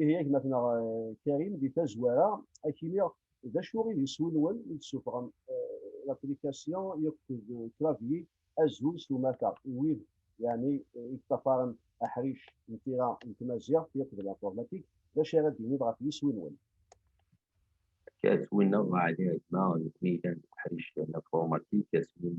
Ihi a gma-tneɣ Karim, di tazwara, ad k-iniɣ d acu i d iswi-nwen i d-ssufɣen l'application yakk d clavier azul s umata i wid yeɛni i yeṭṭafaren aḥric n tira n tmaziɣt yakk d l'informatique, d acu ara d-tiniḍ ɣef yiswi-nwen? Akka, iswi-nneɣ, a Ali, a gma, nekkni yellan deg uḥric n l'informatique, iswi n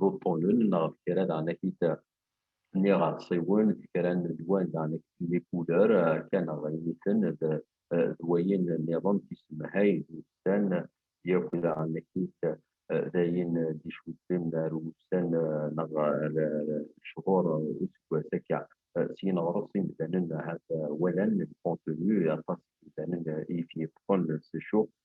beṭṭunen neɣ d kra daɣen ad k-id nniɣerṣiwen d kra n ddwan daɣen ad k-id-nikuler akka neɣ initen d d wayen nniḍen tisemhay d ussan yakk daɣen ad k-id d ayen d-icudden ar wussan neɣ ar lecɣur useggas akka. Syin ɣer-s imdanen ahat walan lkontenu aṭas n yimdanen i t-yeṭṭfen s ccuq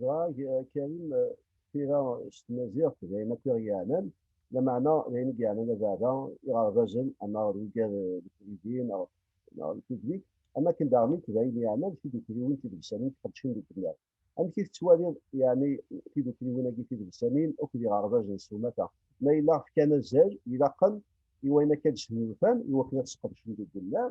Dɣa Karim tira s tmaziɣt d ayen akk i ɣ-yeɛnan, lameɛna d ayen i yeɛnan abeɛda, iɣerbazen ama d wigad n tgridi neɣ neɣ n tudwit, am wakken daɣen nekk d ayen yeɛnan tidukkliwin tidebsanin tqeddcen deg unnar. Amek i tettwaliḍ yeɛni tidukkliwin-agi tidebsanin akked iɣerbazen s umata, ma yella fkan azal ilaqen i wayen akka d-snulfan i wakken ad sqedcen deg unnar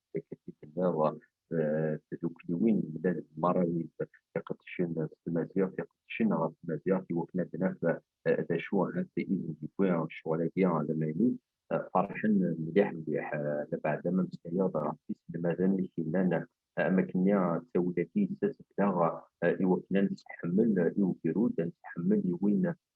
takati tella tdukliwin yellan d marrawid iqeddcen s tmaziɣt iqeddcen ɣef tmaziɣt iwakken ad naf d acu ara t-id-yewwi ccɣel-agi d amaynut ferḥen mliḥ mliḥ labeɛda ma meslayeɣ-d ɣef yiselmaden i k-yennan am akken-nni ttawil-agi yessazeddaɣ iwakken ad nettḥemmel i ugrud ad nettḥemmel i win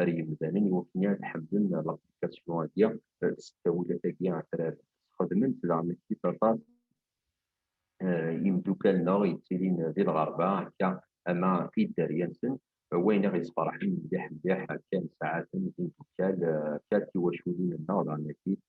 ar yemdanen i wakken ad ḥemden l'application agi s ttawilat agi atrar xedmen daɣen kif aṭas imdukkal-nneɣ yettilin di lɣerba akka ama i dderya-nsen wayen i ɣ-yesferḥen mliḥ mliḥ akka nesɛa-ten d imdukkal akka tiwaculin-nneɣ daɣen akkit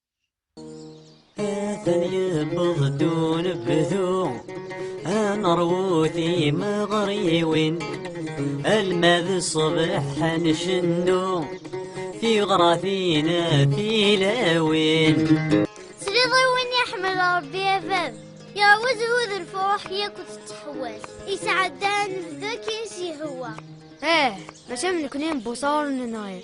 Atan yewweḍ-d unebdu Ad neṛwu timeɣriwin Alma d ṣṣbeḥ ad ncennu Tiɣratin a tilawin Sliḍ i win yeḥmel Ṛebbi a bab Yeṛwa zhu d lefṛuḥ yak ur tettḥewwal Yesɛedda anebdu akken s-yehwa Eh, maca am nekni n buṣaṛ n nɣir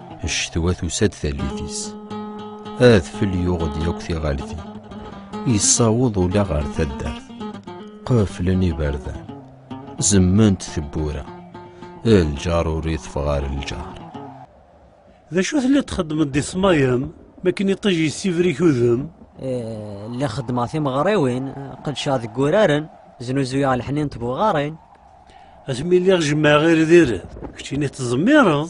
Ccetwa tusa-d tallit-is. Adfel yuɣ-d yakk tiɣalti. Yessaweḍ ula ɣer taddart. Qeflen iberdan. Zemmant tebbura. Lǧar ur iteffeɣ ɣer lǧar. D acu telliḍ txeddmeḍ di tmayem, mi akken iṭij yessibrik udem? Eh, lliɣ xeddmeɣ timeɣriwin, qedceɣ deg uraren, znuzuyeɣ leḥnin n tbuɣarin. Asmi lliɣ jemɛeɣ irdiren, keččini tettẓemmireḍ?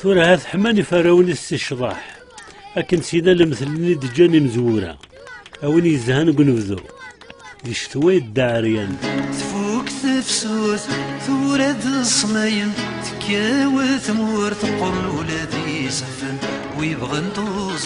Tura ha teḥman ifarrawen-is si ccḍeḥ, akken sida lemtel-nni i d-ǧǧan imezwura, a win yezhan deg unebdu, di ccetwa i dda ɛeryan. Tfuk tefsut, tura-d ṣṣmay, tekkaw tmurt, qqren ula d isefen, wi bɣan tuẓ.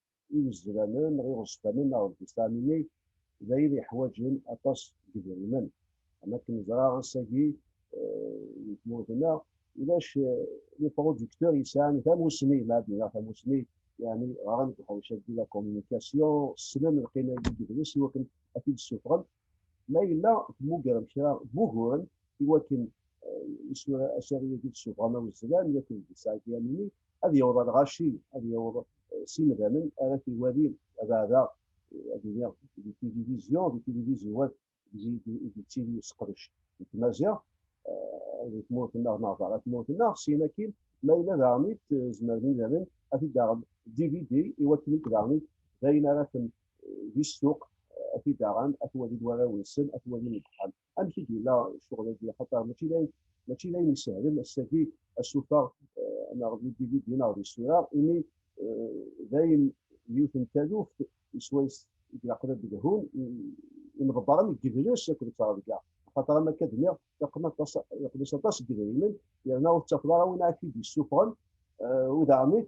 iwezzlanen neɣ iɣezfanen neɣ deg usṭamineg d ayen yeḥwaǧen aṭas n yidrimen. Am akken neẓra ass-agi deg tmurt-nneɣ ulac li producteurs yesɛan tamussni, ma ad niniɣ tamussni yeɛni ɣran deg uḥric-agi la communication, ssnen lqima-agi n yidles i wakken ad t-id-ssufɣen. Ma yella tmugrem kra n wuguren i wakken isura asaru-agi d-ssufɣen awezzlan yak deg yesɛa-agi ad nini ad yaweḍ ɣer lɣaci ad yaweḍ eh, s imdanen ara t-iwali abeɛda eh, ad iniɣ di tilivizyu di tilivizyuwat di ttili useqdec n tmaziɣt eh, di tmurt-nneɣ neɣ berra tmurt-nneɣ syin akkin ma yella daɣen-it zemren imdanen ad t-id-aɣen DVD i wakken it daɣen-it d ayen ara ten di ssuq ad t-id-aɣen ad t-walin warraw-nsen ad t-walin deg uxxam amek i d-yella ccɣel-agi, xaṭer mačči dayen mačči dayen isehlen ass-agi asufeɣ eh, neɣ di DVD neɣ di sura, imi eh, dayen yiwet n taluft iswayes i ilaq ad d-lhun imḍebbren deg yidles akked ttrebga. Xaṭer am akka d-nniɣ, yeqqen-as aṭas n yidrimen, yerna ur ttafeḍ ara win ara k-id-yessufɣen, eh, udaɣen-ik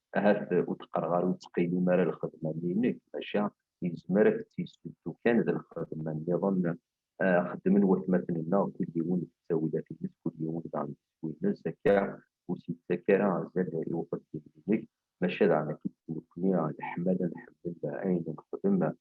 Ahat ur teqqareɣ ara ur ttqiyim ara lxedma-nni-inek, maca yezmer ad k-tt-yessutu kan d lxedma-nniḍen, axeddem n watmaten-nneɣ, kul yiwen d ttawilat-ines, kul yiwen daɣen d iswi-ines, akka ur s-yettak ara azal i uxeddim-inek, maca daɣen akka-id nekkni leḥmala nḥemmel ayen nexdem.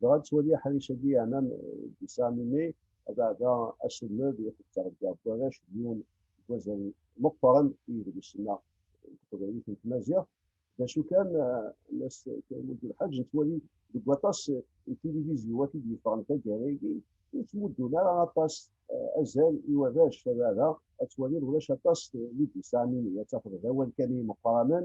dɣa nettwali aḥric-agi yeɛnan di Saɛmimi, abeɛda aselled i ixeddar-d Ɛebdu Arrac d yiwen n wazal meqqren i yedlisen-a n teqbaylit n tmaziɣt, d acu kan, Mass Karim Wuld Belḥaǧ, nettwali deg waṭas n tilivizyu-wat i d-yeffɣen taggara-agi, ur ttmuddun ara aṭas azal i warrac, abeɛda ad twaliḍ ulac aṭas n yidis-a, ad tafeḍ d awal kan i yimeqqranen,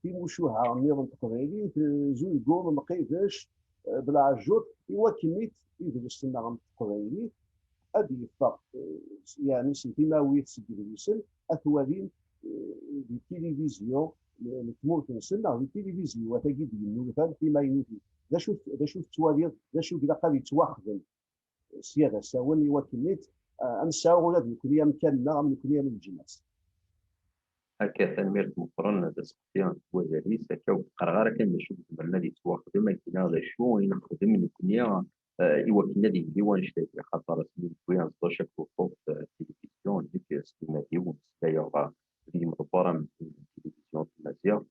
timucuha niḍen teqbaylit zungur mqidec belɛejjuṭ iwakken-it idles-nneɣ n teqbaylit ad yeffeɣ yani si timawit seg idlisen ad twalin di tilivizyu n tmurt-nsen neɣ di tilivizyu atagi d-yennulfan timaynutin d acu tettwaliḍ d acu ilaq ad yettwaxdem sya d asawen i wakken it ad nesɛu ula d nekkni amkan-nneɣ am nekkni am leǧnas. Akka, tanemmirt meqqren d aseqsi n wazal-is, akka ur d-qqareɣ ara kan d acu izemren ad yettwaxdem akken neɣ d acu i nexdem nekkni i wakken ad yeldi wannect-agi, axaṭer asmi newwi aẓeṭṭuc akked uṭṭuf d tilivizyu, nekk s timmad-iw mmeslayeɣ d yimḍebber amezun n tilivizyu n tmaziɣt,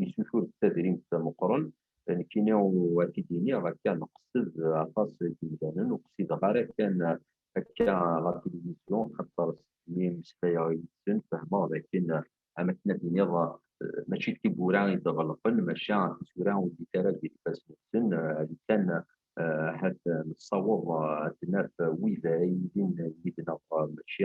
yessutur d tadrimt meqqren, nekkini ad t-id-iniɣ akka neqsed aṭas n yimdanen, ur qsideɣ ara kan akka ɣer tilivizyu, axaṭer mi mmeslayeɣ yid-sen fehmeɣ d akken am akken ad d-iniḍ mačči d tiwwura i d-ɣelqen, maca tisura ur llint ara deg yifassen-nsen, lukan ahat nessaweḍ ad d-naf wid ara yilin yid-neɣ mačči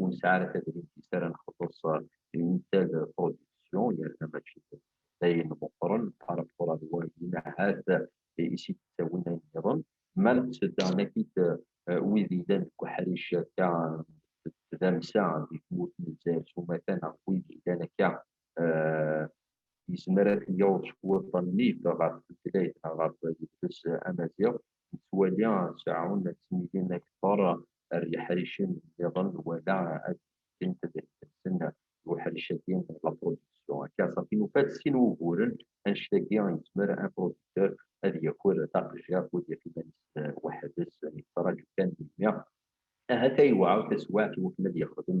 ur nesɛi ara tadrimt-is ara nexleṣ une telle production yerna mačči d ayen meqqren par rapport ad wayen ahat i s-id-ttawin ayen nniḍen ma nseddan-ak-id wid yellan deg uḥric akka d amsa di tmurt n Lezzayer s umata neɣ wid yellan akka yezmer ad yaweḍ cwiṭ nnif ɣef tutlayt neɣ ɣef yidles amaziɣ nettwali seɛɛun ad ttnidin akteṛ ar yiḥricen nniḍen wala ad ldin tadrimt-nsen i uḥric-agi n la production. Akka safi nufa-d sin wuguren, annect-agi yezmer un producteur ad yaker taqejjiṛt ur d-yaf iman-is weḥd-s, yettraǧu kan melmi ahat ad yewɛu taswiɛt i wakken ad yexdem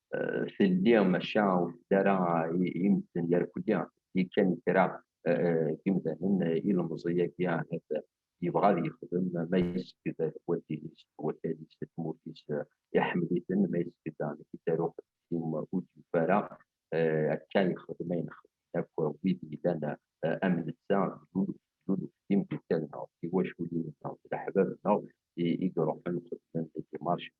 eh, telli maca ur telli ara imedden yerkuli telli kan kra eh, n yimdanen ilemẓi-agi yebɣa ad yexdem ma yesged wati-is wakal-is tmurt-is iḥemmel-iten ma yesged amek i taruq ur d-yufa ara akka yexdem ayen xedmen akk wid yellan am netta dulu timdukal-nneɣ tiwaculin-nneɣ d leḥbab-nneɣ i iruḥen xedmen dimarc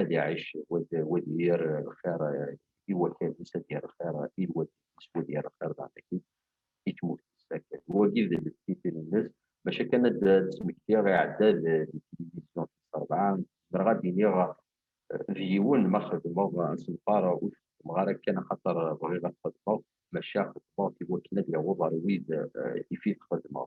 ad iɛic wid wid yir lxir i wakal-is ad yerr lxir i lwaldin-is wid yerr lxir daɣen-agi i tmurt-is akken wagi d leftit-nnes maca kan ad d-smektiɣ iɛedda d tilivizyu tis rebɛa zemreɣ ad d-iniɣ d yiwen ma xedmeɣ asenfar ur t-xedmeɣ ara kan axaṭer bɣiɣ ad t-xedmeɣ maca xedmeɣ-t i wakken ad yaweḍ ar wid i t-id-xedmeɣ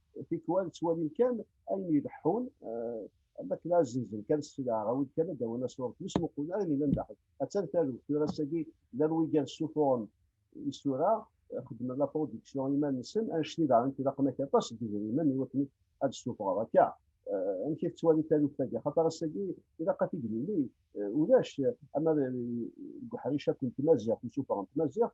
tikwal ttwalin kan ayen ileḥḥun am akken ad zzenzen kan sselɛa awid kan ad d-awen aṣuṛ ur smuqul ara ayen yellan daxel attan taluft tura ass-agi llan wigan ssufuɣen isura xeddmen la production iman-nsen anect-i daɣen tilaqen-ak aṭas n yidrimen i wakken ad ssufuɣeḍ akka amek i tettwali taluft-agi xaṭer ass-agi ilaq ad t-id-nini ulac amar deg uḥric akk n tmaziɣt usufuɣ n tmaziɣt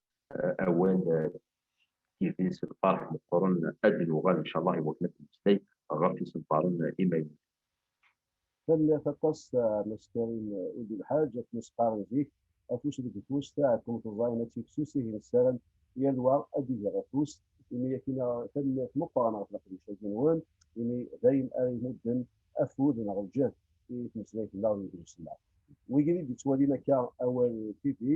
awal tidi s lferḥ meqqren ad d-nuɣal incallaḥ i wakken ad d-nmeslay ɣef isenfaren imaynuten. Tanemmirt aṭas Mass Karim Ould Elhaj akken i s-qqaren zik, afus deg ufus, taɛekkumt ẓẓayen ad tifsus, ihi nessaram yal wa ad d-iger afus, imi akin tanemmirt meqqren ɣef leqdic-agi-nwen, imi d ayen ara imudden afud neɣ lǧehd i tmeslayt-nneɣ d udlis-nneɣ. Wigin i d-yettwalin akka awal tidi,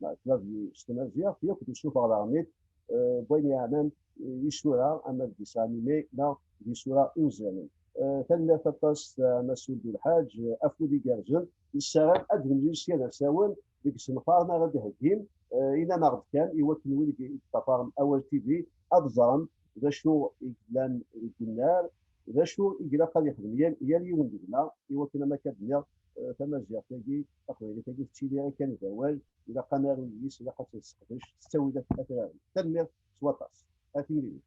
meɛtmad s tmaziɣt yakk d isufeɣ daɣen-it n wayen yeɛnan isura ama deg yisra anime neɣ d isura imeẓyanen. Tanemmirt aṭas Masud Belḥaǧ, afud igerrzen. Nessaram ad d-nemlil sya d asawen deg yisenfaren ara d-theggim. Inam-aɣ-d kan i wakken wid i d-yeṭṭafaren Awal TV ad ẓren d acu i yellan deg unnar, d acu i ilaq ad ixdem yal yiwen deg-neɣ i wakken am akka d-nniɣ tamaziɣt-agi taqbaylit agi tettili i kan d awal ilaq ad naru yis ilaq ad t-nesseqdec s ttawilat atraren tanemmirt s waṭas a timlilit